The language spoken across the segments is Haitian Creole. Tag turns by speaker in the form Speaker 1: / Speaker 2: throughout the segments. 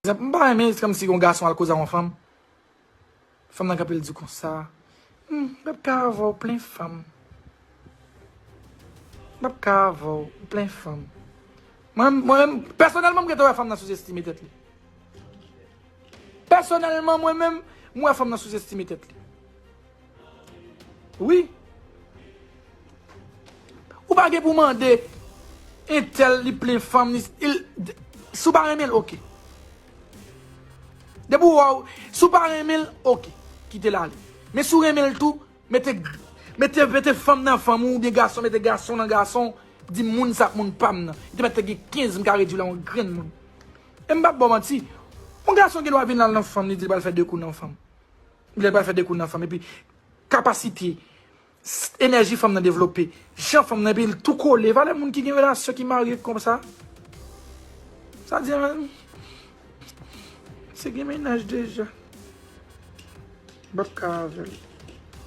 Speaker 1: Zep m pa renmen se kòmsi yon gason al koze ak yon fanm, fanm nan kanpe l di konsa, m pap ka avè w plen fanm, m pap ka avè w plen fanm. Mwen menm, pèsonèlman m rete wè fanm nan souzestime tèt li. Pèsonèlman mwen menm, m wè fanm nan souzestime tèt li. Wi. Ou pa gen pou mande entèl li plen fanm ni il si w pa renmen l ok. Depi w wè w si w pa renmen l ok kite l ale. Men si w renmen l tou mete mete mete fanm nan fanm ou oubyen gason mete gason nan gason w di moun sa moun pa m nan. Li te mèt te gen 15 m ka redui l a yon grenn moun. E m pa p ba w manti yon gason gen dwa vin la nan fanm li di l pral fè 2 kou nan fanm. Lè pral fè dekoul nan fanm epi kapasite enèji fanm nan devlope, jan fanm nan epi tou kole, valè moun ki gen relasyon ki marye konsa. Sa di an se gen mennaj deja. Ou pap ka avèl.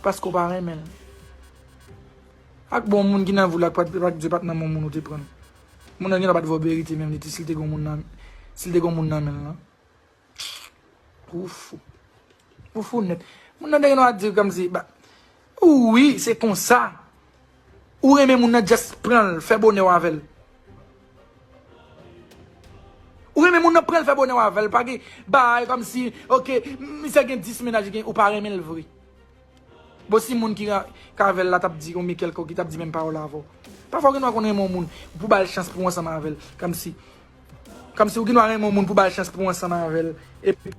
Speaker 1: Paske ou pa renmen l. Ak bon moun ki nan vi w la ak Dye pat nan bon moun ou te pran l. Moun nan genlè pat vè w berite menm li te si l te gen yon moun nan men l lan. Foufou. Foufou net. Moun nan te gen dwa di kom si ba Wi, se konsa. Ou renmen moun nan just pran l fè bonè w avè l. Ou renmen moun nan pran l fè bonè w avè l. Pa gen bay kom si ok misye gen 10 menaj li gen ou pa renmen l vre. Bon si moun ki ka avèl la tap di ou byen kèlkò ki tap di menm pawòl avèw. Pafwa ou gen dwa konn renmen yon moun pou bal chans pou ansanm avèl. Kòmsi kòmsi ou gen dwa renmen yon moun pou bal chans pou ansanm avèl epi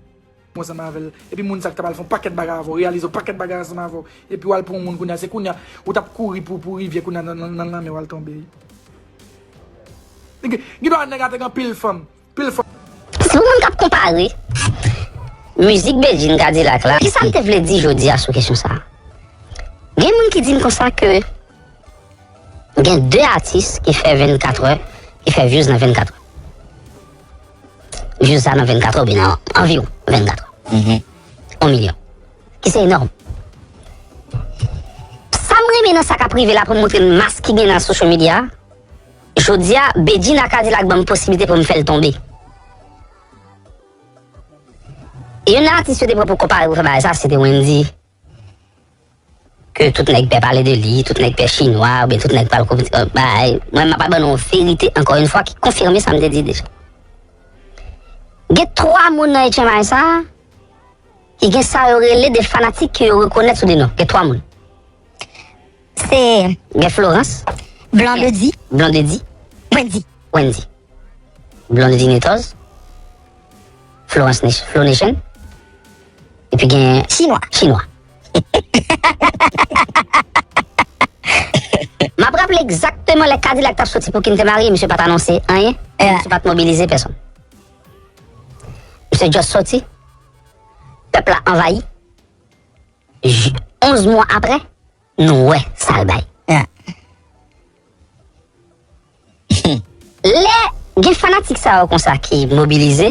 Speaker 1: pou ansanm avèl epi moun sa ki tap al fè yon pakèt bagay avèw reyalize yon pakèt bagay ansanm avèw epi wal pran yon moun kounya se kounya ou tap kouri pou pou rivyè kounya nan lanmè wal tonbe. Gen dwa nèg a te gen anpil fanm. pil fwa.
Speaker 2: Si yon moun kap konpare mizik Bedjine Kadilak la, kisa li te vle di jodi a sou kesyon sa? Gen moun ki di m konsa ke gen 2 atis ki fè 24 è, ki fè vyouz nan 24 è. Vyouz sa nan 24 è oubyen nan anviwon 24 è. On milyon. Ki se enòm. Sa m renmen nan sa kap rive la pou m montre n mas ki gen nan social media a, Jodia Bedjine a Kadilak banm posibilite poum fèl tonbe. Youn nan atis yo te pran pou konpare pou fè bagay sa se te Wendy ke tout nèg pè pale de li, tout nèg pè chinwa oubyen tout nèg pral kòmit kòmit bagay. Mwen map pral ban nou yon verite ankò yon fwa ki konfime sa m te di deja. Gen 3 moun nan HMI sa ki gen sa yo rele de fanatik ke yo rekonèt sou de non. Gen 3 moun.
Speaker 3: Se gen Florans,
Speaker 2: Blondedy.
Speaker 3: Blondedy. Wendy.
Speaker 2: Wendy. Blondedy Netoz. Florans Nation. Flo Nation. E pi gen... Chinwa. Chinwa. Ma prap le egzakteman le kadi lak tap soti pou kinte mari, msye pat anonse anye, eh. msye pat mobilize peson. Msye just soti, pep la anvayi, J 11 mwa aprè nou wè sal bay. Humm lè gen fanatik sa yo konsa ki mobilize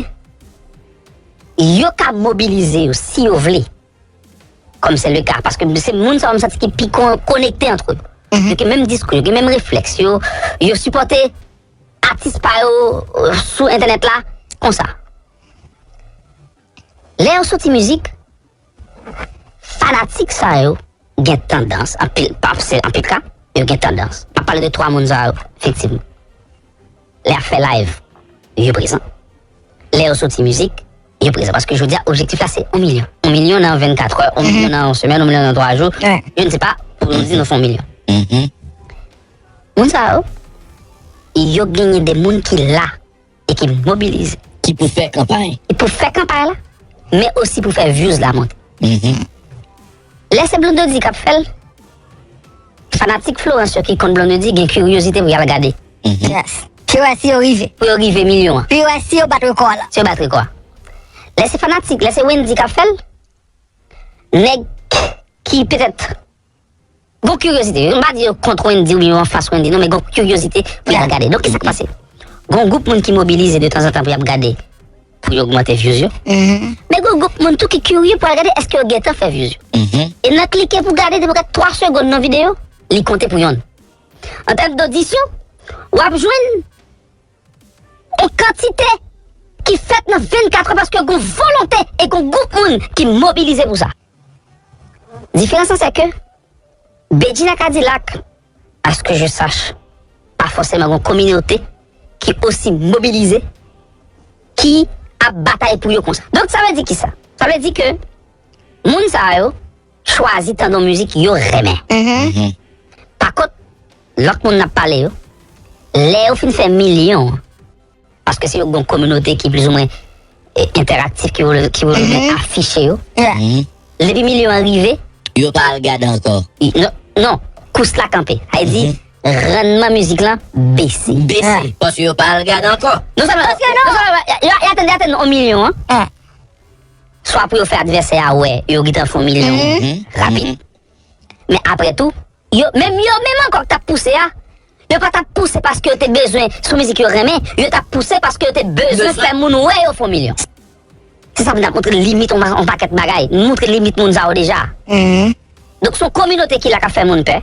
Speaker 2: yo ka mobilize yo si yo vle kòm se le ka paske se moun sa yo m santi ki pi konekte antre yo yo gen menm diskou yo gen menm reflèks yo yo sipòte atis pa yo sou entènèt la konsa lè yo soti mizik Fanatik sa yo gen tandans anpil paf se anpil ka yo gen tandans pa pale de 3 moun sa yo efektivman. Lè yap fè live yo prezan. Lè yo soti mizik yo prezan paske jodi a objektif la se 1 milyon. 1 milyon nan 24 è, 1 milyon nan yon semèn, 1 milyon nan 3 jou, je ne sais pas pou nou di nou fè 1 milyon. Moun sa yo yo genyen de moun ki la e ki mobilize. Ki pou fè kanpay.
Speaker 4: Ki pou fè kanpay la,
Speaker 2: men osi pou fè vyouz la monte. Lè se Blondedy k ap fè l, fanatik Florence yo ki konn Blondedy gen kiryozite pou y al gade. Yes. Pou
Speaker 3: yo wè si yo rive. Pou yo rive milyon an.
Speaker 2: Pou yo wè si yo bat rekò
Speaker 3: a. Si yo bat rekò a.
Speaker 2: Lè se fanatik, lè se Wendy k ap fè l, nèg ki petèt. Gon kiryozite, m pa di yo kont Wendy oubyen yo anfas Wendy non men gon kiryozite pou y al gade. Donk kisa k pase? Gon gwoup moun ki mobilize de tanzantan pou y ap gade pou yo ogmante vyouz yo. Men gon gwoup moun tou ki kirye pou al gade èske yo gentan fè vyouz yo. E nan klike pou gade depi w gad 3 segonn nan videyo, li konte pou yonn. An tèm dodisyon, w ap jwenn on kantite ki fèt nan 24 è paske gon volonte e gon gwoup moun ki mobilize pou sa. Diferans lan se ke Bedjina Kadilak, a ce que je sache, pa fòseman gon kominote ki osi mobilize, ki ap batay pou yo konsa. Donk sa vle di kisa? Sa vle di ke moun sa yo chwazi tande yon mizik yo renmen. Pakont, lòt moun n ap pale yo, lè yo fin fè milyon, Paske se yon bon kominote ki plizoumwen enteraktif ki vle plizoumwen afiche yo. Depi milyon an rive. Yo pa al gade
Speaker 4: ankò. Non,
Speaker 2: kous la kanpe. Sa vle di. Rannman mizik lan bese. Bese. Paske yo
Speaker 4: pa al gade ankò. Non sèlman. Paske non
Speaker 2: sèlman. Yo atenn yo atenn 1 milyon an. Swa pou yo fè advèsè a wè yo gentan fè 1 milyon. Rapid. Men apre tou. yo menm yo menm ankò ki t ap pouse a, yo pa t ap pouse paske yo te bezwen sou mizik yo renmen, yo t ap pouse paske yo te bezwen fè moun wè yo fon milyon. Se sa pou n ap montre limit yon pakèt bagay, n montre limit moun sa yo deja. Donk se yon kominote ki la k ap fè moun pè,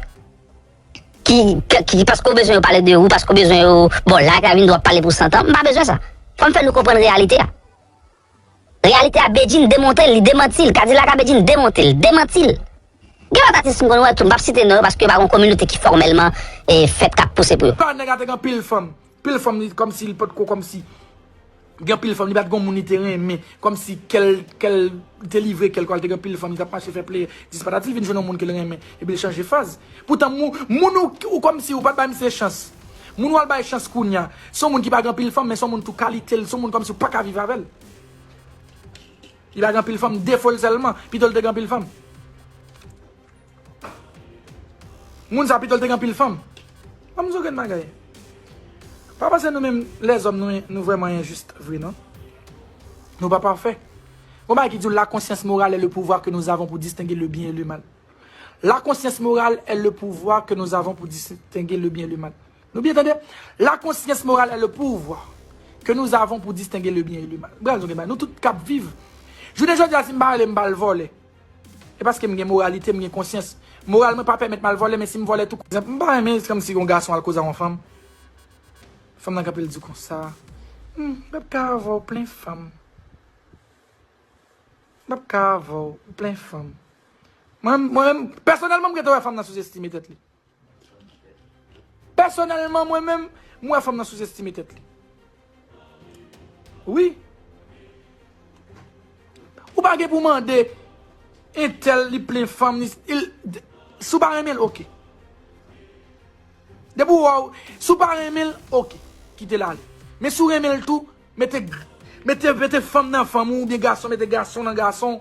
Speaker 2: ki paske w bezwen yo pale de ou, paske w bezwen yo ba w like, vin di w ap pale pou santan, m pa bezwen sa. Fò m fè nou konprann reyalite a. Reyalite a Bedjine demonte l, li demanti l, Kadilak a Bedjine demonte l, demanti l. Gen lòt atis m konn wè tou, m pap site non yo paske yo pa gon kominote ki fòmèlman fèt kap pouse pou yo. Pawòl nèg a te gen anpil fanm,
Speaker 1: pil fanm li kòmsi li potko kòmsi gen pil fanm, li pat gon moun li te renmen, kòmsi kèl kèl li te livre kèl kòl te gen pil fanm li tap mache fè pleyè dis patati li vin jwenn yon moun kel renmen epi l chanje faz poutan moun ou kòmsi ou pat bay misye chans. Moun wal bay chans kounya, se yon moun ki pa gen anpil fanm men se yon moun tou kalite l, se yon moun kòmsi ou paka viv avè l. Li pa gen anpil fanm, defo l sèlman, pito l te gen anpil fanm. Moun sa pito l te gen anpil fanm. An m di w gen bagay. Pa panse nou menm lèzòm nou vrèman enjis vre non. Nou pa pafè. Gon bagay ki di w la konsyans morale le pouvwa ke nou zavon pou distenge le byen e le mal. La konsyans moral è le pouvwa ke nou avon pou distenge le byen e le mal. Nou byen tande? La konsyans moral è le pouvwa ke nou avon pou distenge le byen e le mal. Bra nou gen bay. Nou tout kap viv. Jounen jodi a si m pa rele m pa al vole. E paske m gen moralite, m gen konsyans. Moral mwen pa pèmèt m al vole men si m vole tou. M pa renmen se kòm si yon gason al koze a yon fanm. Fanm nan kanpe l di konsa. Humm, m pap ka avè w plen fanm. M pap ka avèw, ou plen fanm. Mwen menm, pèsonèlman m rete wè fanm nan souzestime tèt li. Pèsonèlman mwen menm, m wè fanm nan souzestime tèt li. Wi. Ou pa gen pou mande entèl li plen fanm, si w pa renmen l, ok. Depi w wè w, si w pa renmen l, ok, kite l ale. Men si w renmen l tou. Mete mete fanm nan fanm ou oubyen gason mete gason nan gason